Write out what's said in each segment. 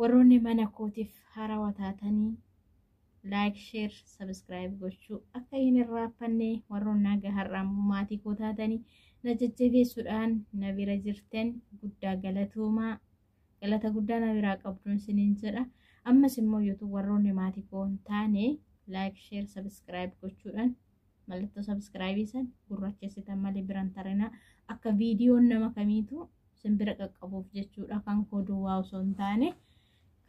Warroonni mana kootiif haarawa taatanii like, share, subscribe gochuu akka hin irraaffanne warroon naga har'a ammoo maatii koo taatanii na jajjabeessuudhaan na bira jirtan guddaa galatoomaa galata guddaa na biraa qabduun siniin jedha ammas immoo youtube warroonni maatii koo hin taane like, share, subscribe gochuudhaan mallattoo sabiskiraayibii san gurrachessitan malee biran tarinaa akka viidiyoon nama kamiitu simbira qaqqabuuf jechuudha kan koo duwwaa osoo hin taane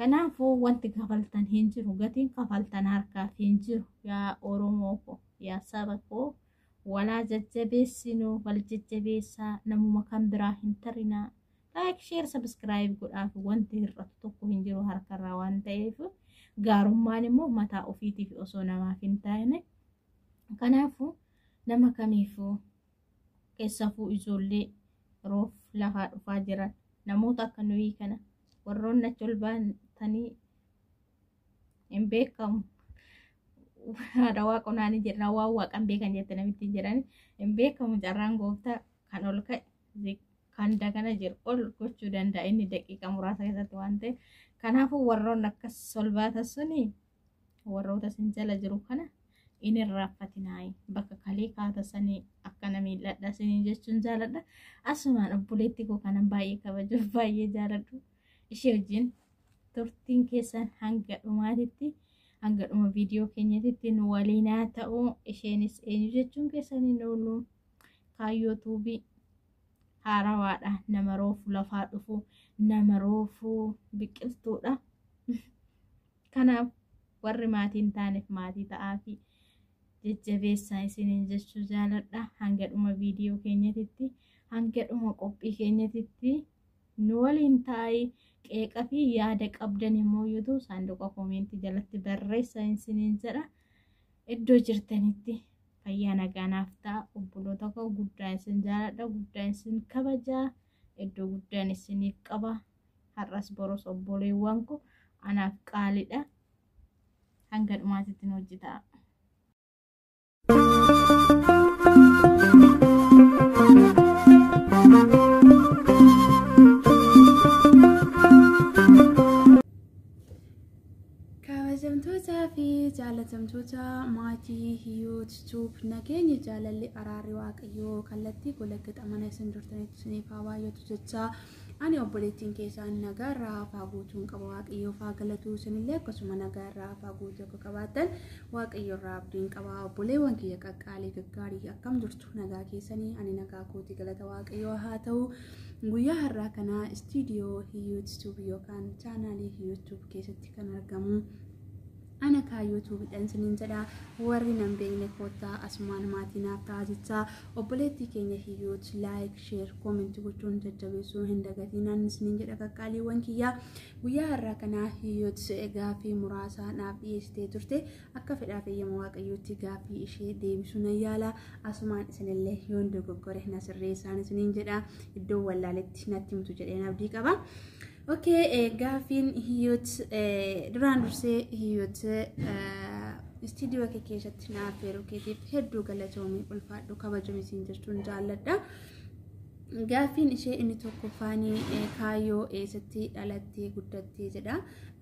kanaafuu wanti kafaltan hin jiru gatiin kafaltan harkaaf hin jiru yaa oromoo koo yaa saba koo walaa jajjabeessinuu wal jajjabeessaa namuma kan biraa hin tarinaa Laayik, sheer, sabiskiraayib godhaaf wanti hir'atu tokko hin jiru harkarraa waan ta'eef gaarummaan immoo mataa ofiitiif osoo namaaf hin taane kanaafuu nama kamiifuu keessafuu ijoollee roof lafaa dhufaa jiran namoota akka nuyi kana warroonni achi ol baatanii hin beekamu. Haadha waaqonaanii jedhan waan waaqan beekan jette namitti jedhan hin beekamu carraan gooftaa kan ol ka'e ziq kan dagana jiru ol gochuu danda'a inni daqiiqa muraasa keessatti waan ta'e kanaafuu warroon akkas solbaata suni warroota isin jala jiru kana in irraanfatinaayi bakka kalee kaata sanii akkana miidhadha sanii jechuun jaaladha asumaan obboleettii koo kanan baay'ee kabajuuf baay'ee jaaladhu ishee wajjin turtiin keessan hanga dhumaatitti hanga dhuma viidiyoo keenyatitti nu waliinaa ta'uu isheenis eenyu jechuun keessanii nu kaayyoo tuubii haarawaadha nama roofu lafaa dhufu nama roofu biqiltuudha kanaaf warri maatii hin taaneef maatii ta'aafi jajjabeessaa isiniin jechuu jaaladha hanga dhuma viidiyoo keenyatitti hanga dhuma qophii keenyatitti nu waliin taa'ii qeeqa fi yaada qabdan immoo yuutuu saanduqa koomeentii jalatti barreessaa isiniin jedha iddoo jirtanitti fayyaa nagaa naaf ta'a obboloota koo guddaa isin jaaladha guddaa isin kabajaa iddoo guddaan isiniif qaba har'as boros obboleewwan koo anaaf qaaliidha hanga dhumaatitti nu wajji ta'a. Kabajamtootaa fi jaalatamtoota maatii Hiyoot Tuub nageenyi jaalalli araarri waaqayyoo kallattii golaggaxa mana isin jirtanitti isiniif haa baay'atu jechaa ani obboleettiin keessaan nagaa irraa hafaa guutuun qaba waaqayyoof haa galatuu isinillee akkasuma nagaa irraa hafaa guutuu akka qabaattan waaqayyo irraa abdiin qaba obboleewwan kiyya qaqqaalee gaggaarii akkam jirtu. nagaa keessanii ani nagaa kooti galata waaqayyoo haa ta'u guyyaa har'aa kana istiidiyoo yuutuub yookaan chaanaalii yuutuub keessatti kan argamu ana kaa yuutuubidhaan siniin jedha warri nan beekne koottaa asumaan maatii naaf ta'a jechaa obboleettii keenya hiyyuut laayik sheer koomentii gochuun jajjabeessuu hin dagatinaan siniin jedha qaqqaaliiwwan kiyyaa guyyaa har'aa kana hiyyuut gaaffii muraasa naaf dhiyeessitee turte Akka fedhaa fi eeyyama Waaqayyootti gaaffii ishee deebisuu nan yaala. Asumaan isinillee yoon dogoggore na sirreessaan isiniin jedha. Iddoo wallaaletti natti himtu jedheen abdii qaba. Okay, gaaffiin hiyyot duraan dursee hiyyot istiidiyoo kee keessatti naaf yeroo keetiif hedduu galatoomi ulfaadhu kabajuun isin jechuun jaalladha. Gaaffiin ishee inni tokkoffaan kaayyoo eessatti dhalattee guddattee jedha.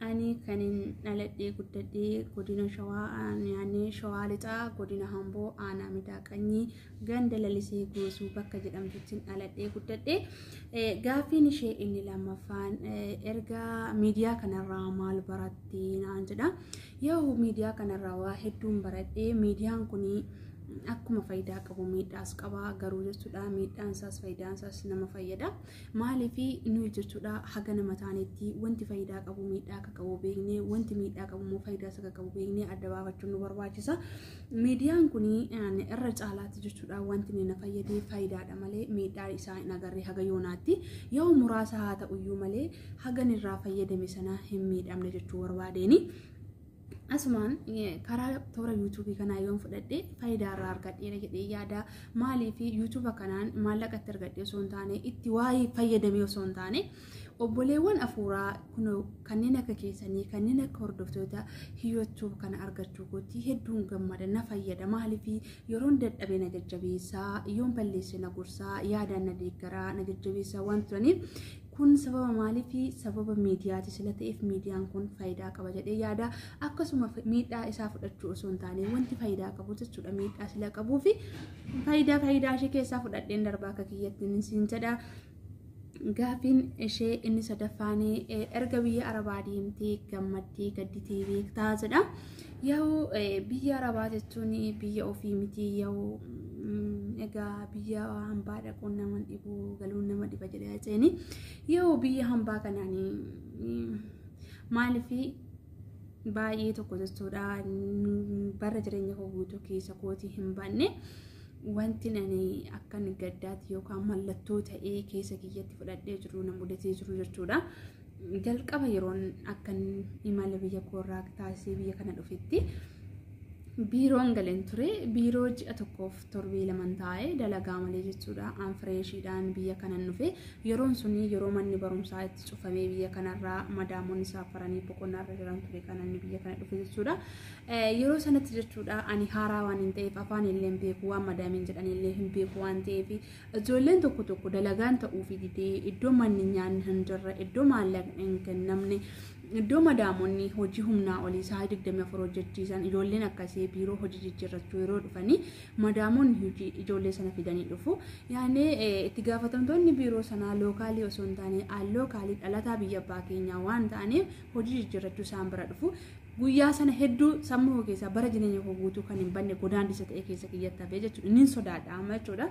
Ani kanin dhaladhee guddadhee godina shawaa naannoo shawaa lixaa godina hamboo aanaa midaa qanyii ganda lalisee goosuu bakka jedhamtuttiin dhaladhee guddadhee. Gaaffiin ishee inni lammaffaan erga miidiyaa kanarraa maal barattee naan jedha. Yaa'u miidiyaa kanarraa waa hedduun baradhee miidiyaan kun akkuma faayidaa qabu miidhaas qaba garuu jechuudha miidhaan isaas faayidaan isaas nama fayyada maaliif nuyi jechuudha haga nama taanetti wanti faayidaa qabu miidhaa akka qabu beeknee wanti miidhaa qabu immoo faayidaa isa qabu beeknee adda baafachuun nu barbaachisa miidiyaan kun irra caalaatti jechuudha wanti na fayyadee faayidaadha malee miidhaa isaa hin agarre haga yoonaatti yoo muraasa haa ta'uyyuu malee hagan irraa fayyadame sana hin miidhamne jechuu barbaadeeni. Asumaan karaa toora yuutuubii kanaa yoon fudhadhe faayidaa irraa argadheera jedhee yaada. Maaliif yuutuuba kanaan maallaqa itti argadhe osoo hin taane itti waa'ee fayyadame osoo hin taane obboleewwan afuuraa kun kanneen akka keessanii kanneen akka hordoftoota hiyyootuu kana argachuu kootti hedduun gammada na fayyada maaliif yeroon dadhabe na jajjabeessaa yoon balleesse na gorsaa yaadaan na deeggaraa na jajjabeessaa waan turaniif kun sababa maaliifi sababa miidiyaati sila ta'eef miidiyaan kun faayidaa qaba jedhee yaada akkasuma miidhaa isaa fudhachuu osoo hin taane wanti faayidaa qabu jechuudha miidhaa sila qabuu fi faayidaa faayidaa ishee keessaa fudhadheen darbaa akka kiyyattiin siin jedha. Gaafiin ishee inni sadaffaan erga biyya arabaa deemtee gammaddee gadditii beektaa jedha. Yaa'u biyya arabaa jechuun biyya ofii miti yaa'u egaa biyya hambaa dhaquun nama dhibu galuun nama dhiba jedhee haceeni yaa'u biyya hambaa kanaan maaliif baay'ee tokko jechuudha bara jireenya koo guutuu keessa kootii hin banne wanti ani akkan gaddaatti yookaan mallattoo ta'ee keessa kiyyatti fudhadhee jiru na mudatee jiru jechuudha. jalqaba yeroon akkan imala biyya koorraa taasisee biyya kana dhufetti biiroon galeen ture biiroo ji'a tokkoof torbee laman taa'e dalagaa malee jechuudha aan fireeshiidhaan biyya kanan dhufe yeroon suni yeroo manni barumsaa itti cufamee biyya kanarraa madaamoonni saafaranii boqonnaarra jiran ture kanan biyya kana dhufe jechuudha yeroo sanatti jechuudha ani haaraa waan hin ta'eef afaan illee hin beeku waan madaamiin jedhan illee hin beeku waan ta'eef Ijoolleen tokko tokko dalagaan ta'uufi didee iddoo manni nyaanni hin jirre, iddoo maallaqni hin kennamne, iddoo madaamonni hojii humnaa olii sa'a 24 hojjechiisan ijoolleen akkasii biiroo hojii jijjiirrachuu yeroo dhufanii madaamonni hojii ijoollee sana fidanii dhufu. Yaani itti gaafatamtoonni biiroo sanaa lookaalii osoo hin taane al lookaalii dhalataa biyya abbaa keenyaa waan ta'aniif hojii jijjiirrachuu isaan bira dhufu. Guyyaa sana hedduu sammuu koo keessaa bara jireenya koo guutuu kan hin banne godaannisa ta'e keessa kiyyatti hafee jechuudha. Inni sodaadha amma jechuudha.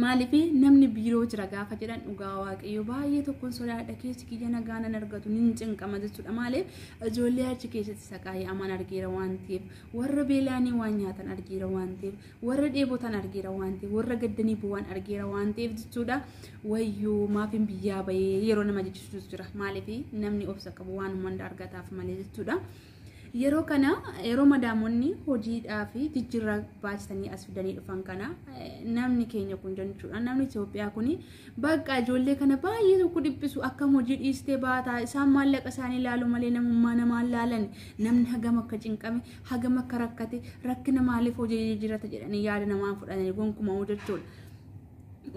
Maaliif namni biiroo jira gaafa jedhan dhugaa waaqayyo baay'ee tokkoon sodaadha keessi kiyya nagaa nan argatu nin cinqama jechuudha maaliif ijoollee achi keessatti saqaayee amaan argeera waan ta'eef warra beelaanii waan nyaatan argeera waan ta'eef warra dheebotan argeera waan ta'eef warra gaddanii bu'aan argeera waan ta'eef jechuudha wayyoo maafiin biyyaa bahee yeroo nama jechisuus jira maaliif namni obsa qabu waan hunda argataaf malee jechuudha. Yeroo kana yeroo madaamonni hojiidhaa fi jijjiirraa baachisanii as fidanii dhufan kana namni keenya kun jechuudha namni Itoophiyaa kun bakka ijoollee kana baay'ee tokko dhiphisu akkam hojii dhiistee baataa isaan maallaqa isaanii ilaalu malee namummaa namaa ilaalan namni hagam akka cinqame hagam akka rakkate rakkina maaliif hojii jijjiirata jedhanii yaada namaa fudhatanii gonkumaa jechuudha.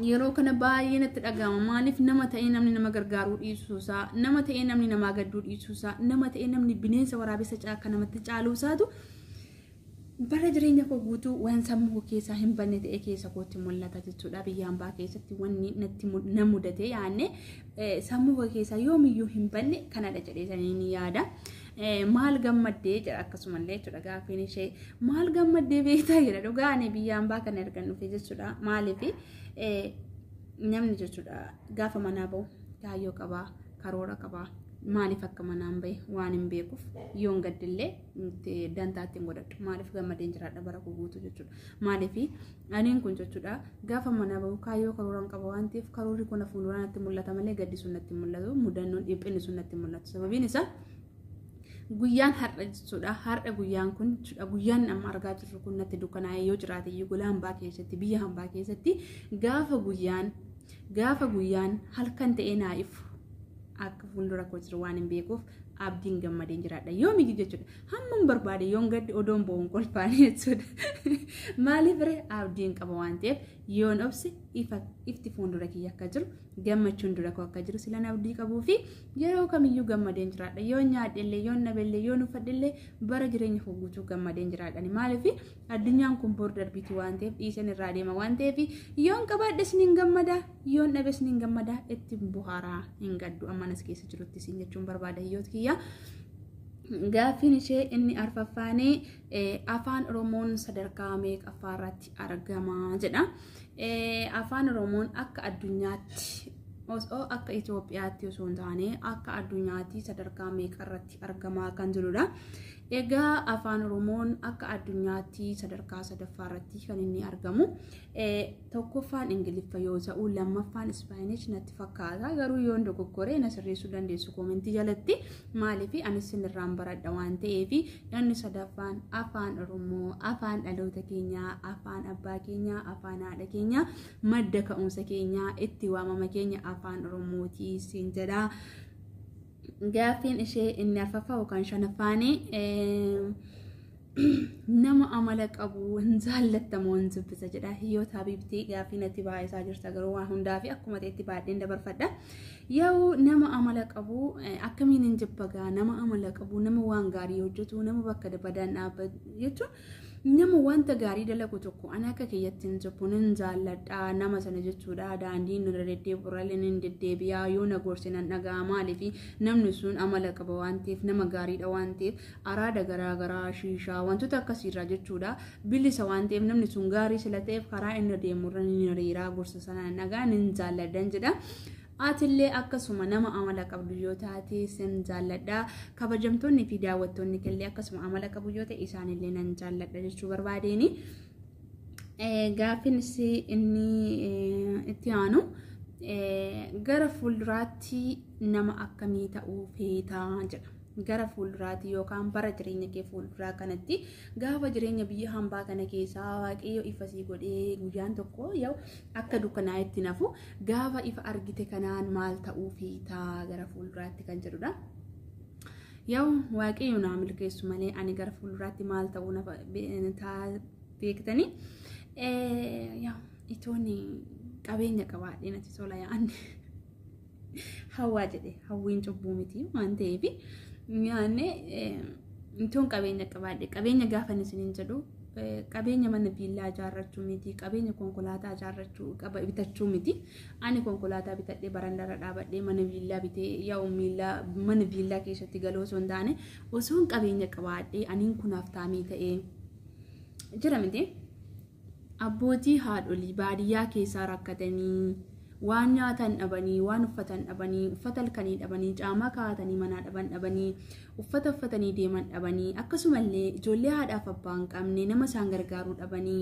Yeroo kana baay'ee natti dhaga'ama maaliif nama ta'ee namni nama gargaaruu dhiisuusaa nama ta'ee namni namaa gadduu dhiisuusaa nama ta'ee namni bineensa waraabessa caakka namatti caaluusaatu bara jireenya koo guutuu waan sammuu koo keessaa hin banne ta'e keessa kootti mul'ata jechuudha biyya hambaa keessatti wanni natti na mudate yaanne sammuu koo keessaa yoomiyyuu hin banne kanadha jedhee saniin yaada. maal gammaddee jedha akkasumallee jechuudha gaaffiin ishee maal gammaddee beektaa jedha dhugaa ani biyya ambaa kana ergan dhufe jechuudha maaliif namni jechuudha gaafa manaa bahu kaayyoo qabaa karoora qabaa maaliif akka manaan bahe waan hin beekuuf yoon gaddillee dantaa ittiin godhadhu maaliif gammadeen jiraadha bara koo guutuu jechuudha maaliif Aniin kun jechuudha gaafa manaa bahu kaayyoo karooraan qaba waan ta'eef karoorri kun fuulduraa natti mul'ata malee gaddi sun natti mul'atu mudannoon dhiphinni sun natti mul'atu sababiin isaa guyyaan har'a jechuudha har'a guyyaan kun jechuudha guyyaan amma argaa jirru kun natti dukkanaa'ee yoo jiraate iyyuu gola hambaa keessatti biyya hambaa keessatti gaafa guyyaan gaafa guyyaan halkan ta'ee naa ifu akka fuuldura koo jiru waan hin beekuuf abdiin gammadeen jiraadha yoomiyyu jechuudha Hamman barbaade yoon gadde odoon bo'uun kolfaan jechuudha. Maaliif ree abdiin qaba waan ta'eef yoon obse ifti fuuldura kiyya akka jiru gammachuun dura koo akka jiru silan abdii qabuu fi yeroo kamiyyuu gammadeen jiraadha. Yoon nyaadhellee yoon dhabellee yoon uffadhellee bara jireenya koo guutuu gammadeen jiraadha. Maaliif addunyaan kun bor darbiitu waan ta'eef dhiiseen irraa deema waan ta'eef yoon qabaadhes ni gammada yoon dhabes ni gammada itti buhaaraa hin gaddu ammanas keessa jirutti siin jechuun barbaada hiyyoota kiyyaa. Gaaffiin ishee inni arfaffaan afaan Oromoon sadarkaa meeqaffaa irratti argama jedha. Afaan Oromoon akka addunyaatti osoo akka Itoophiyaatti osoo hin taane akka addunyaatti sadarkaa meeqa irratti argamaa kan jirudha. Egaa afaan Oromoon akka addunyaatti sadarkaa sadaffaa irratti kan inni argamu. Tokkoffaan Ingiliffa yoo ta'u lammaffaan Ispaayinish natti fakkaata garuu yoon dogoggore na sirreessuu dandeessu koomentii jalatti maaliif anis sinirraan baradha waan ta'eef inni sadaffaan afaan Oromoo afaan dhaloota keenyaa afaan abbaa keenyaa afaan haadha keenyaa madda ka'umsa keenyaa itti waamama keenya afaan Oromootii siin jedha. Gaaffiin ishee inni arfaffaa yookaan shanaffaanii nama amala qabu hin jaallattamoo hin dubbisa jedha. Hiyyoota Habiibtii gaaffii natti baay'isaa jirta garuu waan hundaa fi akkuma ta'etti baadheen dabarfadha. Yoo nama amala qabu akkamiin hin jibbagaa nama amala qabu nama waan gaarii hojjetu nama bakka badaan dhaabbatu jechuun nama wanta gaarii dalagu tokko ana akka kiyyatti hin jibbu nan jaalladha nama sana jechuudha daandiin irra deddeebi'u irrallee nan deddeebi'a yoo na gorse nan dhaga'a maaliif namni sun amala qaba waan ta'eef nama gaariidha waan ta'eef araada garaagaraa shiishaa wantoota akkasiirraa jechuudha bilisa waan ta'eef namni sun gaarii sila ta'eef karaa inni deemu irra ni hiriiraa gorsa sana nan dhaga'a nan jaalladhan jedha Atillee akkasuma nama amala qabdu yoo taate sin jaalladha. Kabajamtoonni fi daawwattoonni killee akkasuma amala qabu yoo ta'e isaanillee nan jaalladha jechuu barbaadeeni. Gaaffiin isii inni itti aanu gara fuulduraatti nama akkamii ta'uu feetaa jedha. Gara fuulduraatti yookaan bara jireenya kee fuulduraa kanatti gaafa jireenya biyya hambaa kana keessaa waaqayyo ifa sii godhee guyyaan tokko yoo akka dukkanaa'etti nafu Gaafa ifa argite kanaan maal ta'uu feeta gara fuulduraatti kan jedhudha. Yaa'u waaqayyo naa milkeessu malee ani gara fuulduraatti maal ta'uu na beektanii. Yaa'u itoon qabeenya qabaadhee natti tola yaa'an. Hawwaa jedhe hawwiin cubbuu miti waan ta'eef yaa'annee itoon qabeenya qabaadhe qabeenya gaafa isin hin jedhu qabeenya mana viillaa ijaarrachuu miti qabeenya konkolaataa ijaarrachuu qaba bitachuu miti ani konkolaataa bitadhee barandarra dhaabadhee mana viillaa bitee yaa'u miillaa mana viillaa keessatti galoo osoo hin taane osoon qabeenya qabaadhee aniin kunaaf taamii ta'ee jira miti abbootii haadholii baadiyyaa keessaa rakkatanii waan nyaatan dhabanii waan uffatan dhabanii uffata halkanii dhabanii caamaa kaa'atanii manaa dhaban dhabanii uffata uffatanii deeman dhabanii akkasumallee ijoollee haadhaaf abbaa hin qabne nama isaan gargaaruu dhabanii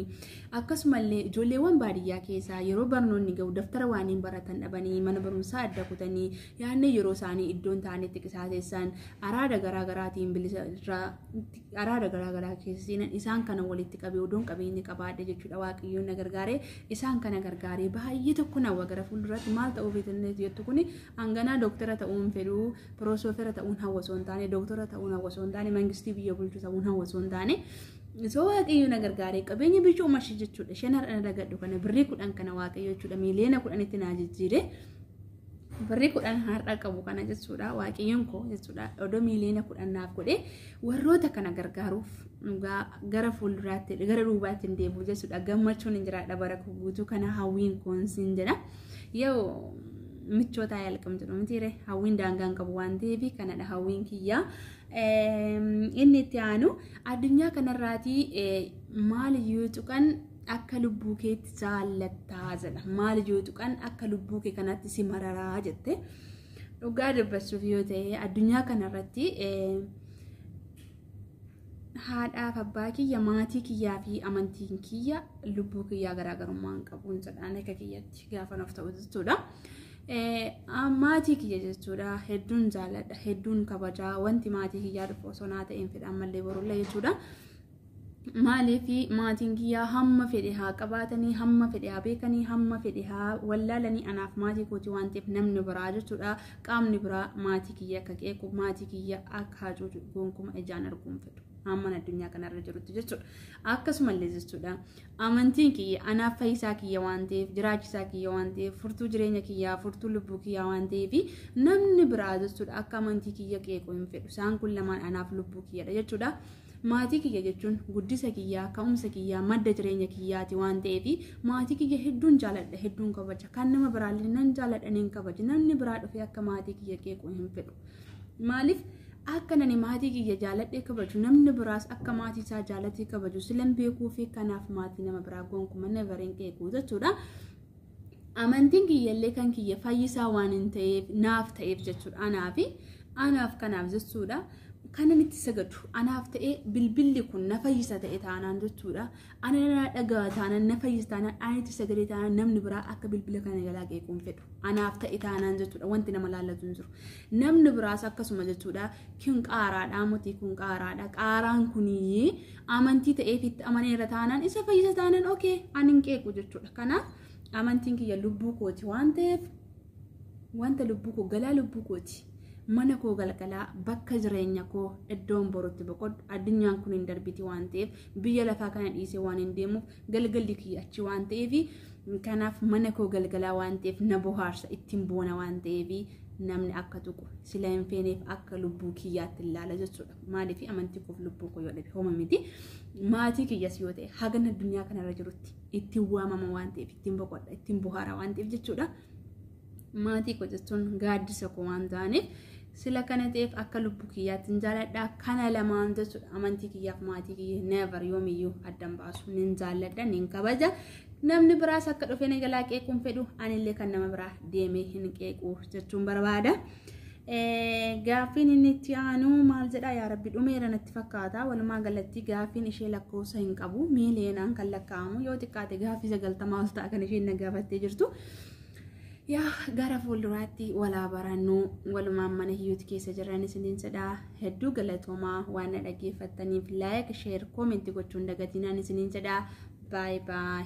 akkasumallee ijoolleewwan baadiyyaa keessaa yeroo barnoonni ga'u daftara waaniin baratan dhabanii mana barumsaa adda kutanii yaadne yeroo isaanii iddoon ta'anitti qisaasessan araada garaa garaatiin bilisa irraa araada garaa garaa keessa seenan isaan kana walitti qabee odoon qabeenya qabaadhe jechuudha waaqayyoon na gargaaree isaan kana gargaaree baay'ee tokko na wagara fuulduraatti maal ta'uu feetannees jettu kuni hanganaa dooktara ta'uun fedhuu piroosofera ta'uun hawwasoo hin taane dooktora ta'uun hawwasoo hin taane mangistii biyya bulchu ta'uun hawwasoo hin taane soo waaqayyoo na gargaaree qabeenya bichuu mashi jechuudha shan har'a na dagadhu kana birrii kudhan kana waaqayyoo jechuudha miiliyoona kudhanitti naa jijjiiree Birrii kudhan har'a qabu kana jechuudha waaqayyoon koo jechuudha odoo miiliyoona kudhan naaf godhe warroota kana gargaaruuf dhugaa gara fuulduraatti gara duubaatti hin deemu jechuudha gammachuun hin jiraadha bara koo guutuu kana hawwiin koon siin jedha yoo michootaa yaalqam jedhu mitiire hawwiin daangaan qabu waan ta'eef kanadha hawwiin kiyyaa. Inni itti aanu addunyaa kanarraatii maal yoo tuqan akka lubbuu keetti jaallattaa jedha maal yoo tuqan akka lubbuu kee kanatti si mararaa jette dhugaa dubbachuuf yoo ta'e addunyaa kanarratti haadhaaf abbaa kiyya maatii kiyyaa fi amantiin kiyya lubbuu kiyyaa garaagarummaa hin qabuun jedhaan akka kiyyatti gaafa nuuf ta'u jechuudha. Maatii kiyya jechuudha hedduun jaalladha hedduun kabajaa wanti maatii kiyyaa dhufu osoo naa ta'een fedhaan mallee borullee jechuudha. Maaliif maatiin kiyyaa hamma fedhe haa qabaatanii, hamma fedhe haa beekanii, hamma fedhe haa wallaalanii anaaf maatii kooti waan ta'eef namni biraa jechuudha. Qaamni biraa maatii kiyya akka qeequ, maatii kiyya akka hacuucu gonkuma ijaan arguun fedhu. Hamman addunyaa kanarra jirutti jechuudha. Akkasumallee jechuudha. Amantiin kiyya anaaf fayyisaa kiyya waan ta'eef, jiraachisaa kiyya waan ta'eef, furtuu jireenya kiyyaa, furtuu lubbuu kiyyaa waan ta'eef namni biraa jechuudha akka amantii kiyya qeequ hin fedhu. Isaan kun lamaan anaaf lubbuu kiyyadha jechuudha. Maatii kiyya jechuun guddisa kiyyaa, ka'umsa kiyyaa, madda jireenya kiyyaati waan ta'eef maatii kiyya hedduun jaaladha, hedduun kabaja. Kan nama biraallee nan jaaladha, nan kabaja. Namni biraa dhufee akka maatii kiyya qeequu hin fedhu. Maaliif akka nani maatii kiyya jaaladhee kabaju namni biraas akka maatii isaa jaalatee kabaju silan beekuu fi kanaaf maatii nama biraa gonkuma never hin qeequu jechuudha. Amantiin kiyyallee kan kiyya fayyisaa waan hin ta'eef naaf ta'eef jechuudha. Anaaf anaaf kanaaf jechuudha. Kanan itti sagadu anaaf ta'ee bilbilli kun na fayyisa ta'e taanaan jechuudha. Ana na dhaga'a taanaan na fayyisa taanaan ani itti sagadee taanaan namni biraa akka bilbila kana jalaa qeequu hin fedhu. Anaaf ta'e taanaan jechuudha wanti nama laallatu hin jiru. Namni biraas akkasuma jechuudha. Kun qaaraadha muti kun qaaraadha. Qaaraan kunii amantii ta'eef itti amaneera taanaan isa fayyisa taanaan okee ani hin qeequ jechuudha. Kanaaf amantiin kiyya lubbuu kooti waan ta'eef wanta lubbuu koo galaa lubbuu kooti mana koo galgalaa bakka jireenya koo iddoon borutti boqodhu addunyaan kun hin darbiti waan ta'eef biyya lafaa kana dhiisee waan hin deemuuf galgalli kiyya achi waan ta'eef kanaaf mana koo galgalaa waan ta'eef na bohaarsa ittiin boona waan ta'eef namni akka tuqu sila hin feeneef akka lubbuu kiyyaatti ilaala jechuudha. Maaliif amantii koof lubbuu koo yoo dhabe hooma miti. Maatii kiyyas yoo ta'e hagan addunyaa kanarra jirutti ittiin waamama waan ta'eef ittiin boqodha ittiin bohaara waan ta'eef jechuudha. Maatii koo jechuun gaaddisa koo waan ta'aniif sila kana ta'eef akka lubbuu kiyyaatti hin jaalladha kana lamaan jechuudha amantii kiyyaaf maatii kiyya never yoomiyyuu addan baasu nin jaalladha nin kabaja namni biraas akka dhufee na jalaa qeequun fedhu anillee kan nama biraa deemee hin qeequ jechuun barbaada. Gaaffiin inni itti aanu maal jedhaa yaa rabbi dhumeera natti fakkaata walumaa galatti gaaffiin ishee lakkoofsa hin qabu miiliyoonaan kan lakkaa'amu yoo xiqqaate gaaffii sagaltamaa ol ta'a kan isheen na gaafattee jirtu. Yaa gara fuulduraatti walaa barannu walumaan mana hiyyuuti keessa jiran isiniin jedha hedduu galatoomaa waan na dhaggeeffattaniif laayik sheer koomentii gochuun dagatinaan isiniin jedha baay baay.